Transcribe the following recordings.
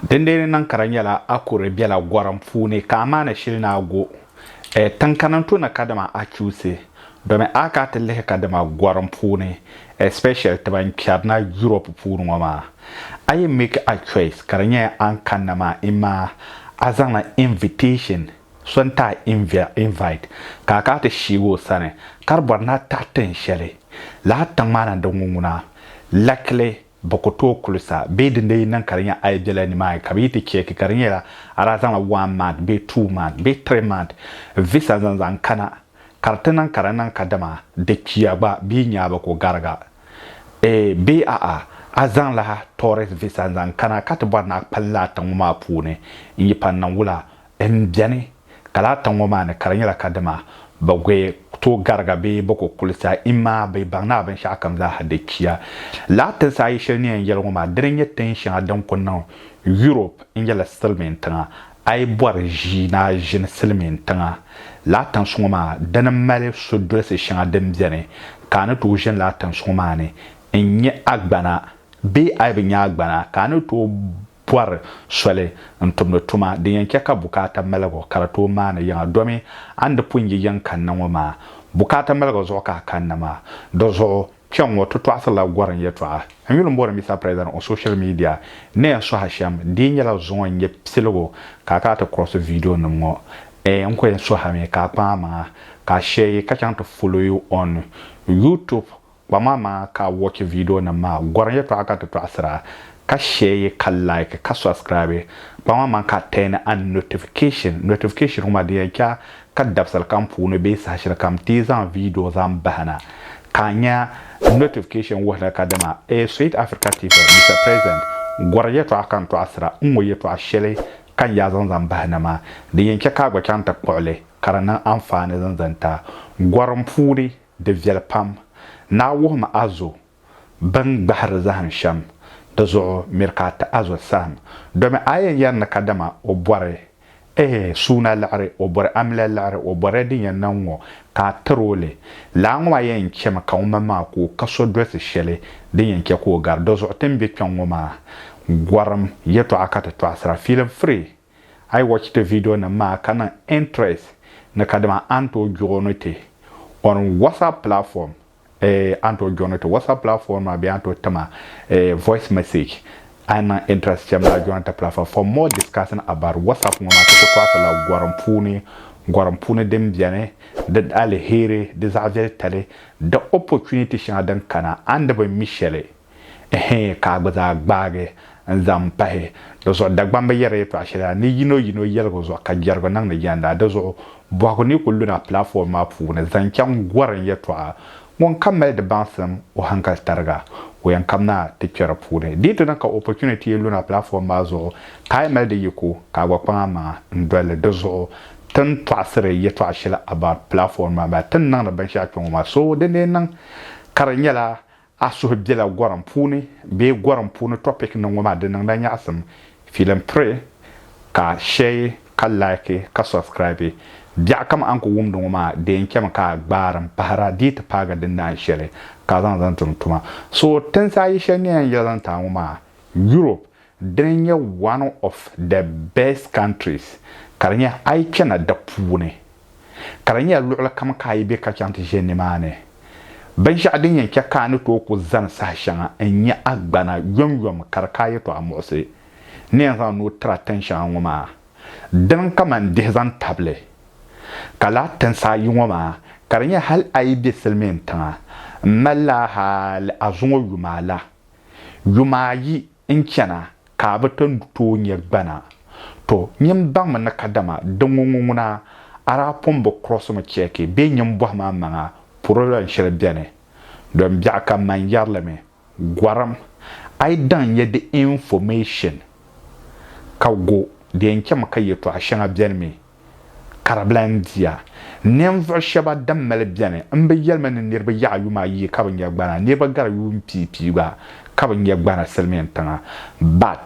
Dindeeni Nankara nyɛla Akure bela Gorim puuni ka Amaana shili ni Ago tiŋkana n-to na kadama Achiusi domi a ka ti lihi kadama Gorim puuni especially ti ban kpɛri na Europe puuni ŋɔ maa a yi make a choice ka di nyɛ a ni kanna maa imaa a zaŋla invitation so n-ti a invite ka a ka ti sheegi o sani ka di bɔri ni a taɣi tiŋ shɛli lala tiŋ maa na n-di ŋun ŋuna likely Bɛ ku tooi kuli sa bee din lee yi niŋ ka di nya a yi bela nimaani ka bɛ yi ti cheeki ka di nyɛla a daa zaŋla one month bee two month bee three month visa zaŋ zaŋ kana ka di ti niŋ ka di niŋ kadama di kpiya gba bɛ yi nya a bɛ ku gariga ee bee a'a a zaŋla tourist visa n-zaŋ kana ka ti bɔri ni a kpalim la a tiŋ ŋɔ maa puuni n-yi pa n-niŋ wula N beni, ka laa tiŋ ŋɔ maa ni ka di nyɛla ka dima bɛ gui tooi gariga bee bɛ ku kuli sa imaa bɛ baŋ ni a binshɛɣu kam zaa ha di chiya. Laa tinsi ayi shɛli ni yɛn yɛli ŋɔ maa, dini n-nyɛ tin shɛŋa din ku niŋ Yurop n-yɛli silimiin tiŋa. A yi bɔri ʒii ni a ʒini silimiin tiŋa laa tinsi ŋɔ maa, dini m-mali sudolisi shɛŋa din beni ka a ni tooi ʒini laa tinsi ŋɔ maa ni n-nyɛ agbana bee a yi bi nyɛ agbana ka a ni tooi pɔri soli n-tumdi tuma din yɛn chɛ ka bukaata maligu ka di tooi maani yiŋa domi a ni di pun yi yiŋ kanna ŋɔ maa. Bukaata maligu zuɣu ka a kanna maa. Di zuɣu, kpɛŋŋɔ ti tɔɣisirila gɔrim yɛtɔɣa. N yuli m-bɔri Mister President on social media ni a suhi a shɛm, di yi nyɛla zuŋɔ n-nyɛ piligu ka a kana ti kurɔsi viidionim ŋɔ, eeh n-ko yɛn suhi a mi ka a kpaŋ a maŋa ka a shɛyi ka chaŋ ti follow you on YouTube. Kpaŋa maa ka a watch video nim maa, gɔrim yɛtɔɣa ka ti tɔɣisira, ka share yi ka like ka subscribe. Kpaŋa maa ka a turn on notification, notification ŋɔ maa di yɛn chɛ a ka dabisili kam puuni bee saha shɛli kam ti yi zaŋ video zaŋ bahi na ka a nya notification wuhi ni ka dama eei Sweet Africa TV Mister President gɔrim yɛtɔɣa ka n tɔɣisira n ŋɔ yɛtɔɣa shɛli ka n yaa zaŋ zaŋ bahi na maa di yɛn chɛ ka a gba chaŋ ti kpuɣi li ka di niŋ anfaani zan zan ti a gɔrim puuni. Di viɛli pam. Naa wuhim a zo bɛn gbahiri zahim shɛm, di zuɣu miri ka a ti a zo saɣim. Domi a yɛn yɛri ni kadama o bɔri eeh suuna liɣiri, o bɔri amiliya liɣiri, o bɔriya din yɛn na ŋ-ŋɔ, ka a tir o li. Laa ŋɔ maa yɛn chɛmi ka ŋumbani maa ku o ka so dolsi shɛli din yɛn chɛ ka o gari. Dɔzuɣu ti ni be kpiɔŋ ŋɔ maa, gɔrim yɛtɔɣa ka ti tɔɣisira, feeling free. A yi watch ti video nim maa ka niŋ interest ni kadama a ni tooi joini ti on WhatsApp platform eh a ni tooi joini ti WhatsApp platform maa bee a ni tooi tim a eh voice message a yi niŋ interest cham daa joini ti platform for more discussing about WhatsApp ŋɔ maa ti ku tɔɣisi la gɔrim puuni gɔrim puuni din beni di alheri di zaɣa viɛli tali di opportunity shɛŋa din kana a ni bi mi shɛli Ɛhɛɛ, ka a gba zaa gbaagi n-zaŋ pahi di zuɣu. Dagbamba yɛrila yɛtɔɣ shɛli la ni yino yino yɛligi zuɣu ka jɛrigu niŋdi jɛnda. Di zuɣu bɔhigu ni kul luna platform maa puuni zaŋ chaŋ gɔrim yɛtɔɣa. Ŋun kam mali di baŋsim, o hankali tariga, o yɛn kam naa ti kpe di puuni. Di yi ti niŋ ka opportunity yi luna platform maa zuɣu ka a yi mali di yiko, ka a gba kpaŋ a maŋa n-doli li. Di zuɣu ti ni tɔɣisiri yɛtɔɣ shɛli about platform maa, ti ni niŋdi binshɛɣu kpe ŋɔ maa. So dindee niŋ ka di nyɛla A suhu bela gorim puuni bee gorim puuni topic niŋ ŋɔ maa di niŋla nyaɣisim feeling pray ka share ka like ka subscribe biɛɣu kam a ni ku wumdi ŋɔ maa dee n chami ka a gbaari n pahira dii ti paagi din naan shɛli ka a zaŋ zaŋ tum tuma so tinsi ayi shɛli nyɛla n yɛli zaŋ ti a ŋɔ maa Europe Dini nyɛ one of the best countries ka di nyɛ a yi kpɛna di puuni ka di nyɛla luɣili kam ka a yi be ka chaŋ ti ʒe nimaani binshɛɣu din yɛn chɛ ka a ni tooi ku zani saha shɛŋa n-nyɛ a gbana yomyom ka di ka a yɛtɔɣa muɣisi ni yɛn zaŋ nuu tiri a tin shɛŋa ŋɔ maa dini kaman dihi zaŋ tabili ka lahi tinsi ayi ŋɔ maa ka di nyɛ hal a yi be silimiintiŋa m-mali la hal a zuŋɔ yuma la yuma ayi N chana ka a bi ti tooi nya gbana. Tɔ! Nyin m baŋmi ni kadama di ŋuŋu ŋuna, a daa pun bi kurɔsi mi chɛɛki bee nyin bɔhi ma m-maŋa puri lɔn shɛli beni. Dɔn biɛɣu ka man yɛri li mi, Gɔrim, a yi daŋ nya di information ka go di yɛn chami ka yɛtɔɣ shɛŋa beni mi Karibila n-diya. Ninvuɣ shɛba din mali beni m-bi yɛli mi ni niriba yaɣi yuma ayi ka bi nya gbana, niriba gari yuun pii pii gba ka bi nya gbana silimiintiŋa. But,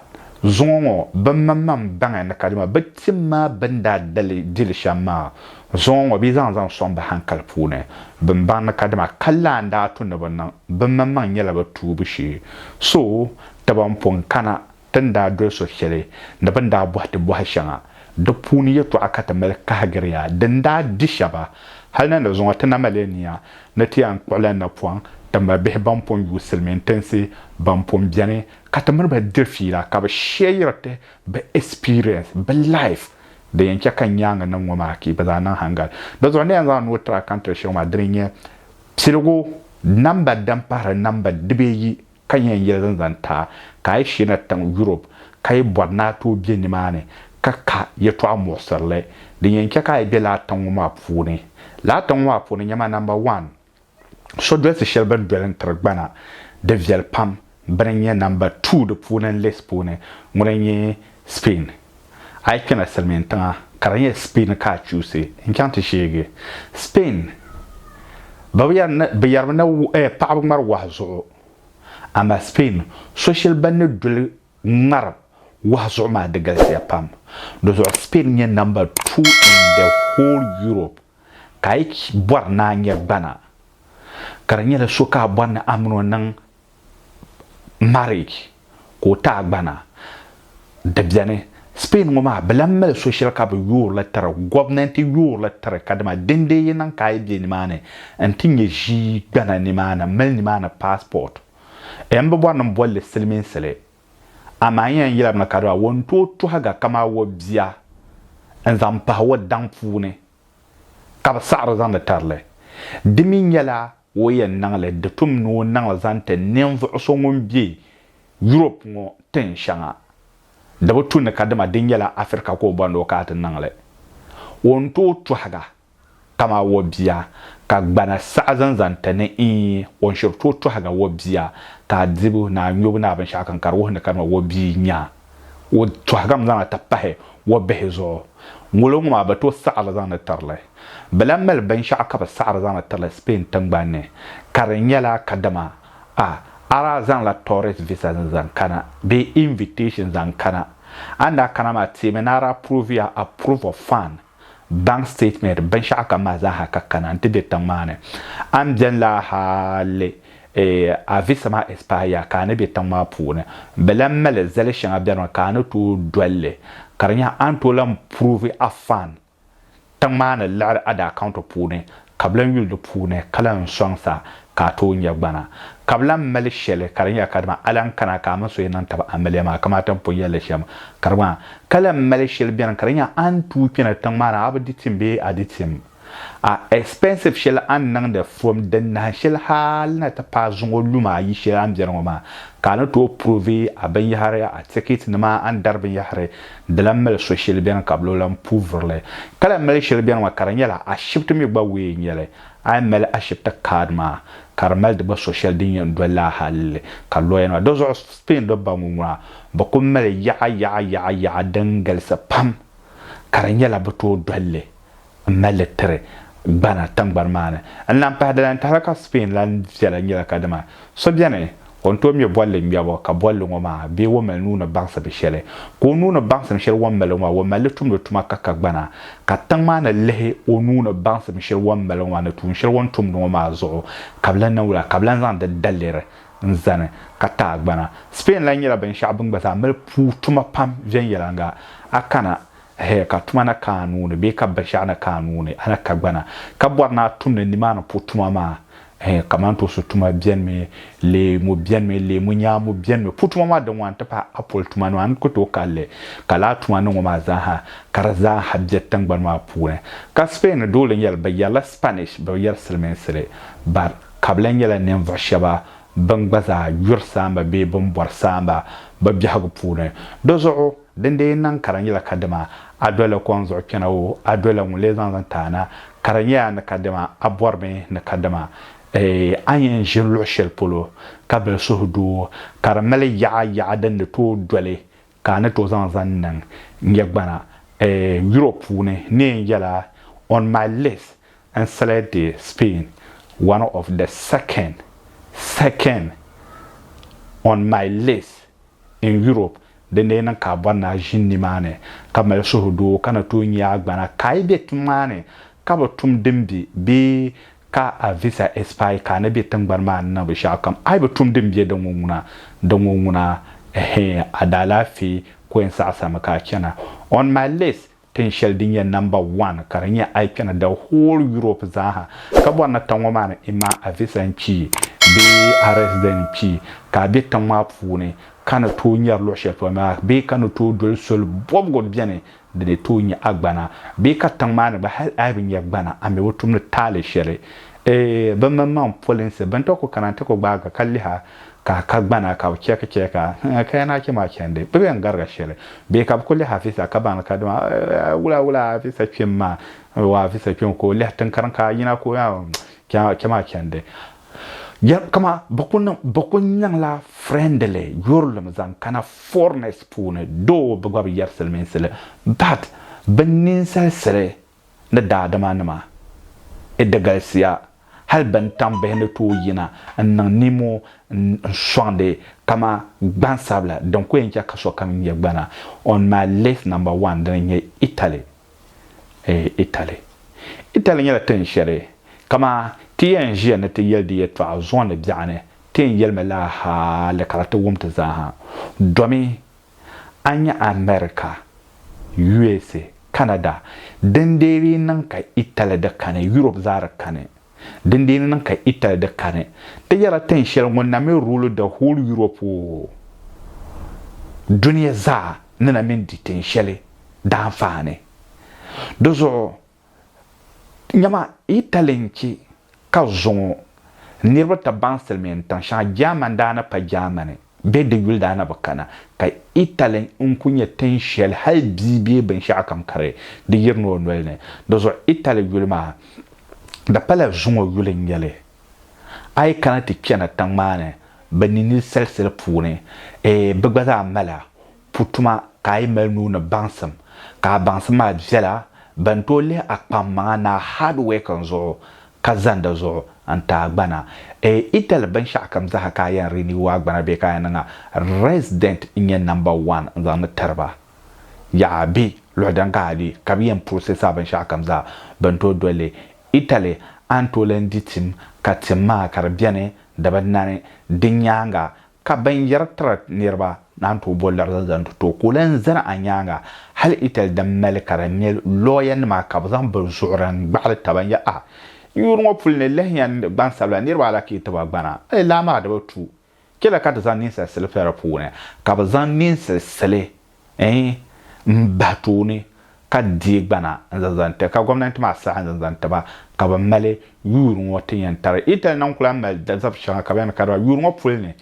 zuŋɔ ŋɔ, bɛ maŋmaŋ baŋya ni kadama bɛ tim ma bɛn daa di li shɛm maa. Zuŋɔ ŋɔ, bɛ zaŋ zaŋ sɔŋ bɛ hankali puuni. Bɛn baŋ ni kadama ka lan daa tu ni bɛ niŋ, bɛ maŋmaŋ nyɛla bɛ tuubu shee. So, taba m-pun kana. ti ni daa doli so shɛli ni bɛ ni daa bɔhi ti bɔhi shɛŋa. Di puuni yɛtɔɣa ka ti mali kahigiri ya din daa di shɛba. Hal na ni zuŋɔ ti na mali nia ni ti yɛn kpuɣila napɔŋ ti ma bihi bɛn pun yuui silimiin tinsi bɛn pun beni ka ti mini ba diri fiila ka bɛ shɛɛyiri ti bɛ experience, bɛ life din yɛn chɛ ka nyaaŋa nim ŋɔ maa kii bɛ zaa niŋ haŋgal. Di zuɣu n ni yɛn zaŋ nuu tiri a kantiri shɛŋa maa dini n-nyɛ, piligu namba din pahiri namba dibeeyi ka yɛn yɛligi n-zaŋ ti a ka a yi sheena tiŋ Yurop ka yi bɔri ni a tooi be nimaani ka ka yɛtɔɣ muɣisirili din yɛn chɛ ka a yi be lala tiŋ ŋɔ maa puuni. Lala tiŋ ŋɔ maa puuni nyama namba wan, so dolisi shɛli bɛ ni doli n-tiri gbana di viɛli pam bɛ ni nyɛ namba tuu di puuni n-list puuni ŋuna n-nyɛ Spain. A yi kpɛla Silimiin tiŋa ka di nyɛ Spain ka a chuusi n-chaŋ ti sheegi Spain, bɛ bi yɛrimi ni paɣaba ŋmari wahi zuɣu. Amaa Spain soshili ban ni doli ŋmari wahi zuɣu maa di galisiya pam. Di zuɣu Spain n-nyɛ number two in the whole Europe ka a yi bɔri ni a nya gbana ka di nyɛla so ka a bɔri ni a mini o niŋ marriage ka o ti a gbana di beni Spain ŋɔ maa bɛ lahi mali so shɛli ka bɛ yoori li tiri gomnanti yoori li tiri ka dama din dee yi niŋ ka a yi be nimaani n ti nyɛ ʒii gbana nimaani m mali nimaani passport M bi bɔri ni m boli li siliminsili amaa n yɛn yɛlimi ka dama o ni tooi tuhiga kamaa o bia n zaŋ pahi o daŋ puuni ka bɛ saɣiri zaŋdi tiri li di mi nyɛla O yɛn niŋ li di tum ni o niŋ li zaŋ ti ninvuɣu so ŋun be Europe ŋɔ tin shɛŋa. Di bi tu ni ka dama di nyɛla Africa ka o bɔni o ka a ti niŋ li. O ni tooi tɔhiga kamaa o bia ka gbana saɣi zani zaŋ ti ni iin o ni shiri tooi tɔhiga o bia ka a dibu ni a nyubu ni a binshɛɣu kam ka di wuhi ni ka dama o bia nya a. o tɔhigimi zaŋ li ti pahi o bihi zuɣu. Ŋolo ŋɔ maa bɛ tooi saɣiri zaŋdi tiri li. Bɛ lahi mali binshɛɣu ka bɛ saɣiri zaŋdi tiri li Spain tiŋgbani ni ka di nyɛla kadama a a daa zaŋla tourist visa n-zaŋ kana bee invitation zaŋ kana. A ni daa kana maa teemi ni a daa provia a proof of fund. bank statement, binshɛɣu kam maa zaa ha ka kana n-ti be tiŋ maa ni. A ni beni la hali a visa maa expire ya ka a ni be tiŋ maa puuni, bɛ lahi mali zali shɛŋa beni mi ka a ni tooi doli li ka di nyɛla a ni tooi lahi prove a fan tiŋ maa ni liɣiri a di account puuni ka bɛ lan yuli di puuni ka lan sɔŋ sa ka a tooi nya gbana. Ka bɛ lan mali shɛli ka di nyɛla kadama a lan kana ka a mini so yɛn niŋ tab amiliya maa, kaman a ti ni pun yɛl li shɛm ka di gba maa. Ka lan mali shɛli beni ka di nya a ni tuui kpɛna tiŋ maa ni a bi di tim bee a di tim. A expensive shɛli a ni niŋdi from din nahin shɛli hal na ti paai zuŋɔ lu maa yi shɛli a ni beni ŋɔ maa, ka a ni tooi prove a binyɛhiri, a ticket nima, a ni dari binyɛhiri. Di lahi mali so shili beni ka bi lo lahi pu vuri li. Ka lahi mali shili beni ŋɔ ka di nyɛla ashibiti mi gba wee n-nyɛ li. A yi mali ashibiti kaad maa ka di mali di gba so shɛli din yɛn doli laa hal li ka lɔya nima. Di zuɣu Spain dɔbba ŋɔ ŋuna bi kuli mali yaɣa yaɣa yaɣa yaɣa din galisi pam ka di nyɛla bi tooi doli li n mali li tiri Ghana tingbani maa ni. N lahi pahi di lantahili la ka Spain lan viɛla nyɛla kadama so beni o ni tooi ŋme bolli ŋmɛbu ka bolli ŋɔ maa bee o mali nuuni baŋsim shɛli. Ka o nuuni baŋsim shɛli o ni mali ŋɔ maa o mali li tumdi tuma ka ka gbana ka tiŋ maa ni lihi o nuuni baŋsim shɛli o ni mali ŋɔ maa ni tuun shɛli o ni tumdi ŋɔ maa zuɣu ka bɛ lan niŋ wula? Ka bɛ lan zaŋ di daliri n zani ka ti a gbana. Spain lan nyɛla binshɛɣu bɛ ni gba zaa mali puu tuma pam viɛnyɛliŋga. A kana Hɛ, ka tuma na ka a nuu ni bee ka binshɛɣu na ka a nuu ni, a ni ka gbana, ka bɔri ni a tumdi nimaani pu tuma maa? Hɛ, kamantoosi tuma bɛnimi, leemu bɛnimi, leemu nyaamu bɛnimi, pu tuma maa din ŋɔ n-ti pahi apɔl tuma nima, a ni ku tooi kali li. Ka lala tuma ni ŋɔ maa zaaha, ka di zaaha be tiŋgbani maa puuni. Ka Spain ni doli n-yɛli, bɛ yɛrila Spanish, bɛ bi yɛri Silimiinsi li, but ka bɛ lahi nyɛla ninvuɣ shɛba bɛn gba zaa yuri saamba bee bɛn bɔri saamba bɛ biɛhigu puuni. Di zuɣu. Din dee yi niŋ ka di nyɛla kadama a dolila kom zuɣu kpɛna o, a dolila ŋun lee zaŋ zaŋ ti a na, ka di nyɛ a ni kadama a bɔri mi ni kadama a yɛn ʒiri luɣ shɛli polo ka bili suhu du o, ka di mali yaɣa yaɣa din ni tooi doli ka a ni tooi zaŋ zaŋ niŋ nyɛ gbana Europe puuni neen yɛla On my list n select Spain one of the second second on my list. In Europe, di lee niŋ ka a bɔri ni a ʒini nimaani ka mali suhudoo ka na tooi nya a gbana ka a yi be tiŋ maa ni ka bi tum din be bee ka a visa expire ka a na be tiŋgbani maa ni na bi shɛɣu kam. A yi bi tum din be di ŋɔ ŋuna di ŋɔ ŋuna, ɛhɛɛ, a daalaafee ko yɛn saɣisirimi ka a chana. On my list, Tin shɛli din nyɛ namba one ka di nyɛ a yi kpɛna the whole Europe zaaha ka bɔri ni tiŋ ŋɔ maa ni i ma a visa n-kpii bee a resident n-kpii ka a be tiŋ maa puuni ka ni tooi nyari luɣ shɛli polo maa bee ka ni tooi doli soli bɔbigu beni di ni tooi nyɛ a gbana bee ka tiŋ maa ni gba hal a yi bi nyɛ gbana a mi bi tumdi taali shɛli bɛ mini maŋ polinsi bɛn ti ku kana nti ku gbaag a ka lihi a. ka a ka gbana ka bɛ chɛki chɛki a, hn, ka ya ni a kpe maa chandi, bɛ bɛn gariga shɛli bee ka bɛ kuli lɛhi Afisa ka baŋ li ka dama a wula wula Afisa kpim maa, o Afisa kpim ka o lɛhi tiŋkariŋ ka a yina ka o yaa ŋ, chɛ maa chandi. Jɛm kama bɛ ku niŋ, bɛ ku niŋla friendly yurilim zaŋ kana foreigners puuni, though bɛ gba bi yɛri silimiinsi li, but bɛ ninsalisili. ni daadimanima i di galisiya hali bɛn tam bihi ni tooi yina n-niŋ nimo n-sɔŋdi kama gbansabila din ku yɛn chɛ ka sokam nya gbana on my list number one dini n-nyɛ Italy eh Italy Italy nyɛla tin shɛli kama ti yɛn ʒiya ni ti yɛli di yɛtɔɣa zuɣu ni biɛɣuni ti yɛn yɛlimi laa hali ka di ti wum ti zaa ha domi A nya America, USA, Canada, din dee lee niŋ ka Italy di kani, Europe zaa di kani, din dee ni niŋ ka Italy di kani. Ti yɛla tin shɛli ŋun na mi rule the whole Europe oo, dunia zaa ni na mi di tin shɛli daanfaani. Di zuɣu Nyama yi tali n-che ka zuŋɔ niriba ti baŋ silimiin tiŋ shɛŋa German daa ni pa Germany bee di yuli daa ni bi kana ka Italy n-kuli nyɛ tiŋ shɛli hali bia bee binshɛɣukam ka di di yiri ni o noli ni. Di zuɣu Italy yuli maa di pala zuŋɔ yuli n-nyɛ li. A yi kana ti chana tiŋ maa ni bɛ ninili salisili puuni eeh bɛ gba zaa mala pu tuma ka a yi mali nuu ni baŋsim ka a baŋsim maa viɛla, ban tooi lihi a kpaŋmaŋa ni a hard working zuɣu ka zandi zuɣu n-ti a gbana. E yi dali binshɛɣukam zaa ka a yɛn renew a gbana bee ka a yɛn niŋ a, resident n-nyɛ number one n-zaŋ li tiri ba. Yaha! Bɛ luɣi din ka a di ka bɛ yɛn process a binshɛɣukam zaa bɛn tooi doli li. Italy a ni tooi lahi di tim ka tim maa ka di beni di bi nani. Di nyaaŋa Ka binyɛra tiri niriba naan tooi bo larisi zaŋ ti too ka o lan zani a nyaaŋa hal Itali din mali ka di nya looyanima ka bɛ zaŋ bɛ zuɣuri n-gbaɣili taba n-yɛl a, N yuuri ŋɔ puli ni lahiya n gbansabila niriba alakai ti ba gbana, a yi lahi maa di bi tu. Chɛli ka ti zaŋ ninsal sili pɛ di puuni, ka bɛ zaŋ ninsal sili Eeh m bahi tooni ka deei gbana n zaŋ zaŋ ti ka gomnanti maa saha n zaŋ zaŋ tiba ka bɛ mali yuuri ŋɔ ti yɛn tari Italy na n ku lahi mali dazab shɛŋa ka bɛ yɛn kariba yuuri ŋɔ puli ni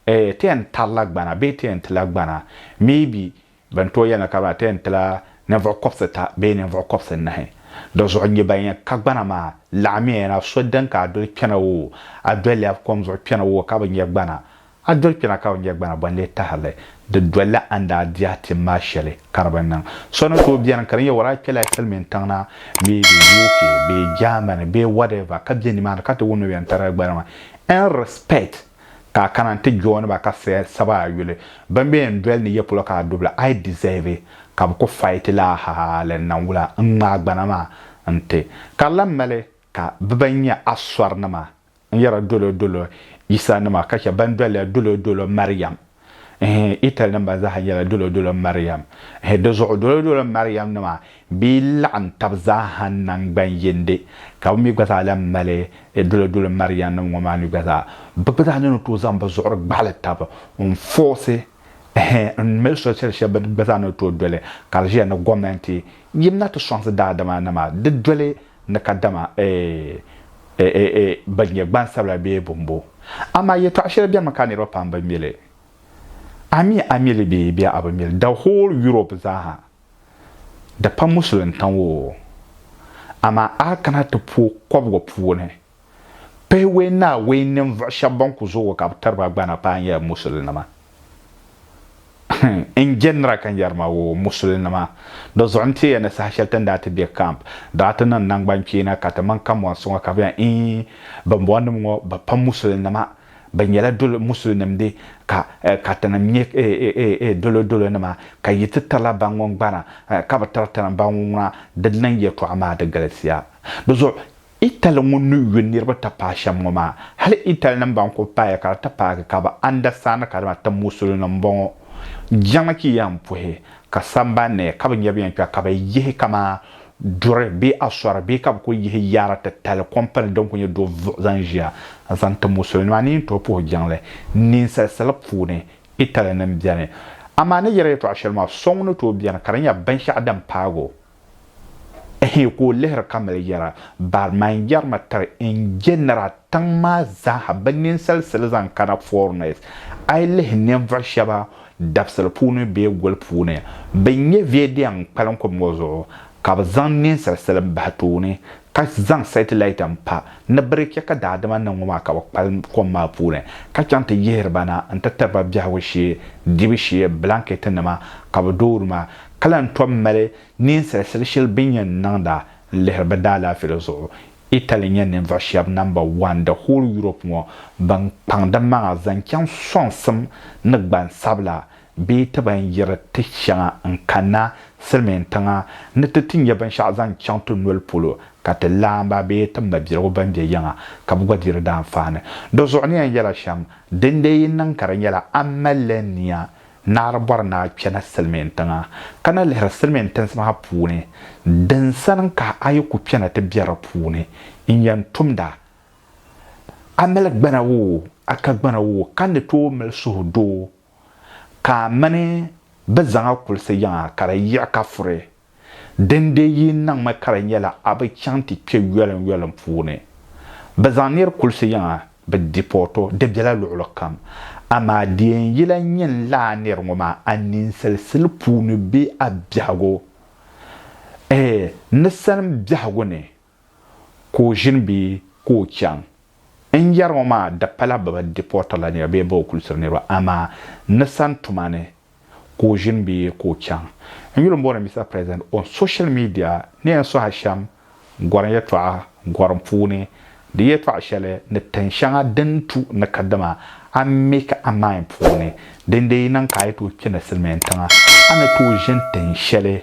eeh ti yɛn tarila gbana bee ti yɛn tila gbana maybe bɛn tooi yɛli ni kariba ti yɛn tila ninvuɣu kɔbisita bee ninvuɣu kɔbisinahi di zuɣu n nyɛ ban yɛn ka gbana maa laɣimiya na so din ka a doli kpɛna o a doliya kom zuɣu kpɛna o ka bi nya gbana A doli kpɛna ka o nya gbana bɔ n-lee tahiri li? Di dolila a ni daa di a tim maa shɛli ka di bi niŋ. So ni tooi beni ka di nyɛ wara kpɛla silimiin tiŋ na bee di UK bee Germany bee whatever ka be nimaani ka ti wum ni bɛ ni tarila gbana maa en respect ka a kana n-ti join ba ka saba a yuli. Bɛn be yɛn doli ni yɛ polo ka a dubi la I deserve ka bɛ ku fight la hali n na wula n-ŋmaai gbana maa n-ti. Ka di lan mali ka bɛ ban nyɛ a sɔrinima N yɛra dolodolo Yisa nima ka chɛ ban doliya dolodolo Mariam. Hii Ital nim ban zaaha nyɛla dolodolo Mariam. Hii di zuɣu dolodolo Mariam nima bee laɣim tab zaaha nangban yindi ka bɛ mi gba zaa lan mali dolodolo Mariam nim ŋɔ maa mi gba zaa. Bɛ gba zaa ni ni tooi zaŋ bɛ zuɣuri gbaɣili tab n fɔɔsi hii n mali soli shɛli shɛba gba zaa ni tooi doli ka di ʒiya ni gomenti yim na ti sɔŋsi daadama nima di doli ni ka dama eeeee bɛ nyɛ gbansabila bee bɔmbo. Amaa yɛtɔɣ shɛli bɛmi ka niriba pam bi mi li. A mi a mi li bee bee a bi mi li, the whole Europe zaaha, di pa Musulintiŋ oo, amaa a kana ti pooi kɔbigu puuni, Pihiwee Naawuni ninvuɣ shɛb bɛn ku zoogi ka bɛ tiri ba gbana paai nyɛla musulinima. N jɛndira ka n yɛri ma, O musulinima, di zuɣu n-ti ya ni saha shɛli ti ni daa ti be kamp, daa ti niŋ naŋgbankpeena ka ti mini kambɔnsi ŋɔ ka bɛ yɛn iin bimbɔnnim ŋɔ bɛ pa musulinima, bɛ nyɛla dolo musulinimdi ka ka tinim nyɛ dolodolonima, ka yi ti tirila ba ŋun gbana ka bi tiri tinim ba ŋun ŋuna, di niŋ yɛtɔɣa maa di galisiya. Di zuɣu Itali ŋun ni yo niriba ti paai shɛm ŋɔ maa, hali Italinim ban kuli paaya ka di ti paagi ka bɛ andasitandi ka dama ti Musulinim m-bɔŋɔ. Jiŋli ka yɛn puhi ka samban ni ka bɛ niriba yɛn kpɛra ka bɛ yihi kamani duri bee asɔri bee ka bɛ kuli yihi yaara titali kɔmpani din kuli nyɛ do vuɣu zaŋ ʒiya n-zaŋ ti Musulinim. A ni yɛn tooi puhi jiŋli ninsal sili puuni Italinim beni. Amaa a ni yɛri yɛtɔɣ shɛli maa, so ŋun ni tooi beni ka di nyɛ binshɛɣu din paag o. Ehe ka o lihiri ka mali yɛra, Bari ma n yɛri ma tiri N jɛnara tiŋ maa zaaha bɛ ninsal sili zaŋ kana foreigners. A yi lihi ninvuɣ shɛba dabisili puuni bee goli puuni, bɛ n-nyɛ vedia n-kpalim kom ŋɔ zuɣu ka bɛ zaŋ ninsal sili m-bahi tooni ka zaŋ satellite m-pa ni bɛ di chɛ ka daadama ni ŋɔ maa ka bɛ kpalim kom maa puuni ka chaŋ ti yihiri ba na nti tiri ba biɛhigu shee, dibu shee, blanket nima ka bɛ doori ma ka lan tom mali neen salisali shɛli bɛ ni yɛn niŋda n-lihiri bɛ daalaafeeli zuɣu. Italy n-nyɛ ninvuɣ shɛb namba wan di whole Europe ŋɔ bɛn kpaŋ di maŋa zaŋ chaŋ sɔŋsim ni gbansabila bee ti ban yiri ti shɛŋa n-kanna silimiintiŋa ni ti ti nya binshɛɣu zaŋ chaŋ ti noli polo ka ti laamba bee ti mabiligu bɛn be yiŋa ka bɛ gba di di daanfaani. Di zuɣu ni yɛn yɛla shɛm, dindee yi niŋ ka di nyɛla a malila nia Naɣiri bɔri ni a kpɛna silimiin tiŋa ka na lihiri silimiin tinsi maa puuni din sani ka a yi ku kpɛna ti be di puuni n-yɛn tumda. A mali gbana woo, a ka gbana woo ka ni tooi mali suhudoo ka a mini bɛ zaŋ a kulisi yiŋa ka di yiɣi ka furi. Dindee yi niŋmi ka di nyɛla a bi chaŋ ti kpe yɔlim yɔlim puuni. Bɛ zaŋ nir kulisi yiŋa, bɛ deport o, di bela luɣili kam. Amaa di yɛn yila nyin laa nir ŋɔ maa a ninsalasili puuni bee a biɛhigu, ɛɛ, ni salim biɛhigu ni. ka o ʒini bee ka o chaŋ. N yɛri ŋɔ maa di pala bɛ bi dipɔɔtirila niriba bee bɛ bi kulsiri niriba amaa ni sani tuma ni ka o ʒini bee ka o chaŋ. N yuli m-booni Mister President on social media ni yɛn sohi shɛm gɔrim yɛtɔɣa gɔrim puuni di yɛtɔɣ shɛli ni tin shɛŋa din tu ni kadama a make a mind puuni din dee yi niŋ ka a yi tooi kpe ni silimiintiŋa a ni tooi ʒini tin shɛli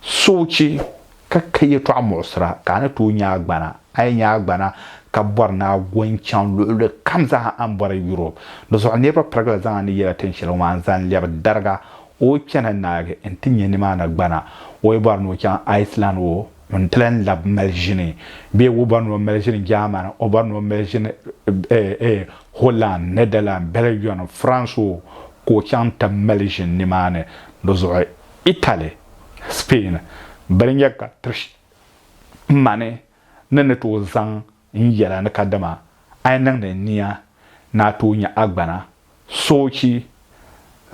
Suhuchi ka ka yɛtɔɣa muɣisira ka a ni tooi nya a gbana. A yi nya a gbana ka bɔri ni a go n-chaŋ luɣili kam zaa a ni bɔri Europe. Di zuɣu niriba pirigila zaŋ a ni yɛla tin shɛli ŋɔ maa n-zaŋ lɛbi dariga o chani naagi nti nya nimaani gbana. O yi bɔri ni o chaŋ Iceland o ni ti lan labi mali ʒini bee o bɔri ni o mali ʒini Germany o bɔri ni o mali ʒini Holland, Netherlands, Belgium, France o ka o chaŋ ti mali ʒini nimaani. Di zuɣu. Italy, Spain bili nyɛ ka ti mani ni ni tooi zaŋ n yɛla ni kadama a yi niŋdi n nia ni a tooi nya agbana soochi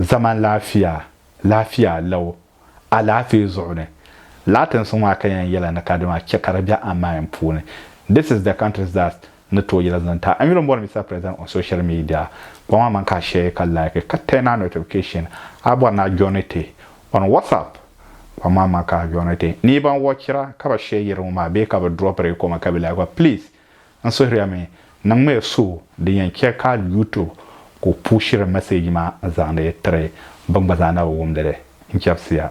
zaman laafia laafia lɛu alaafee zuɣu ni Latinsi ŋɔ a ka yɛn yɛla ni kadama chɛ ka di be a mind puuni This is the countries that Ni tooi yɛla zaŋ ti a yuli m-bɔri Mister President on social media, kpa maa man ka a share ka like ka turn a notification a bɔri ni a joini ti on WhatsApp, kpa maa man ka a joini ti ni ban watchira ka bɛ share yɛri ŋɔ maa bee ka bɛ drop di comment ka bɛ like ba please n suhiri a mi niŋm ya so din yɛn chɛ ka YouTube kuli pushiri message maa n zaŋdi tiri ban gba zaa na bi wumdi li n chɛbisi ya.